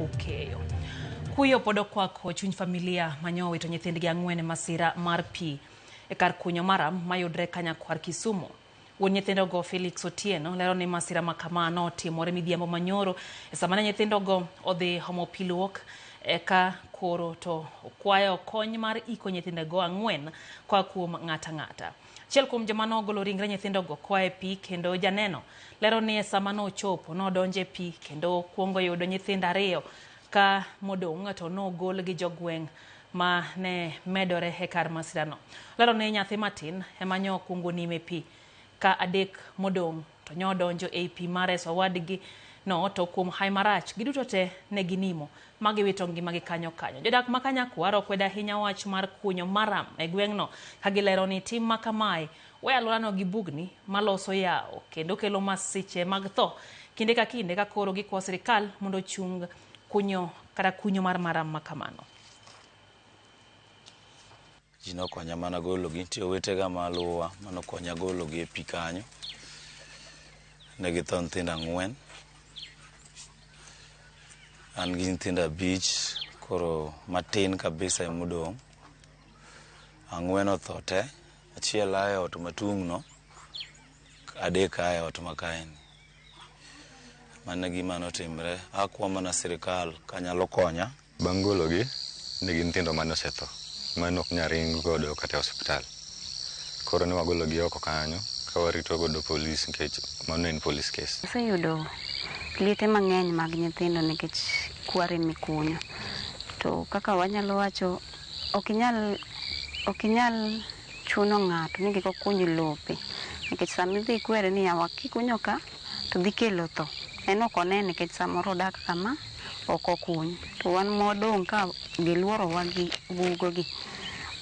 Okeyo. Kuyo pod okwako chuny familia manyo owito nyithindgi ang'wen e masira mar pi e kar kunyo maram mayudre Kanyakwar Kisumu. Wuon nyithindogo Felix Otieno lero ni masira ma kama notimore midhiambo manyoro e sama ne nyithindogo odhi homo pi luok eka koro to okwayo kony mar iko nyithindego ang'wen koa kuom ng'ata ng'ata. Achiel kuom joma nogolo ringre nyithindogo koa e pi kendo janeno lero ni e sama nochopo, nodonjo e pi kendo okwongo yudo nyithindo ariyo ka modong' to nogol gi jogweng' ma ne medore e kar masirano. Olero ni nyathi matin ema nyo okwongo nimo e pi ka adek modong' To nyo odonjo ei pi ma reso owadgi no to kuom haye marach, giduto te ne ginimo, ma giwito ngimagi kanyo kanyo. Jodak ma Kanyakwar okwedo ahinya wach mar kunyo maram e gweng'no, ka gilero ni tim ma kamae weyo alworano gi bugni ma loso yawo, kendo kelo masiche mag tho kinde ka kinde ka koro gikwayo sirkal mondo ochung kunyo kata kunyo mar maram ma kamano. Ji nokonya mana gologi, nitie owetega maluwa manokonya gologi e pi kanyo. Ne githo nyithindo ang'wen. An gi nyithindo abich, koro matin kabisa emodong'. Ang'wen otho te, achiel a e ot matung'no, adek a e ot makaeni. Mano e gima notimre. Akwa mana sirikal kanyalo konya Bang' gologi, ne gin nyithindo mane osetho, mane ok nyal ring godo kata e osiptal. Koro ne wagologi oko kanyo ka warito godo polis nikech mano ne en polis kes. Aseyudo liete mang'eny mag nyithindo nikech kware mikunyo. To kaka wanyalo wacho, ok inyal, ok inyal chuno ng'ato ni kik okuny lope. Nikech sama idhi ikwere ni yawa kikunyo ka, to dhi kelo tho. En ok one nikech samoro odak kama ok okuny. To wan mwadong' ka giluorowa gi bugogi,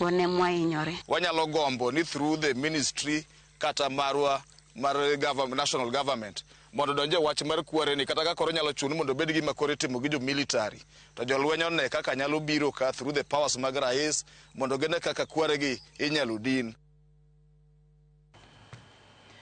wan ema wahinyore. Wanyalo gombo ni through the ministry kata marwa mar government, national government mondo odonje wach mar kware ni kata ka koro nyalo chun mondo obed gima koro itimo gi jo military to jolweny one kaka nyalo biro ka through the powers mag rais mondo gine kaka kware gi inyalo din.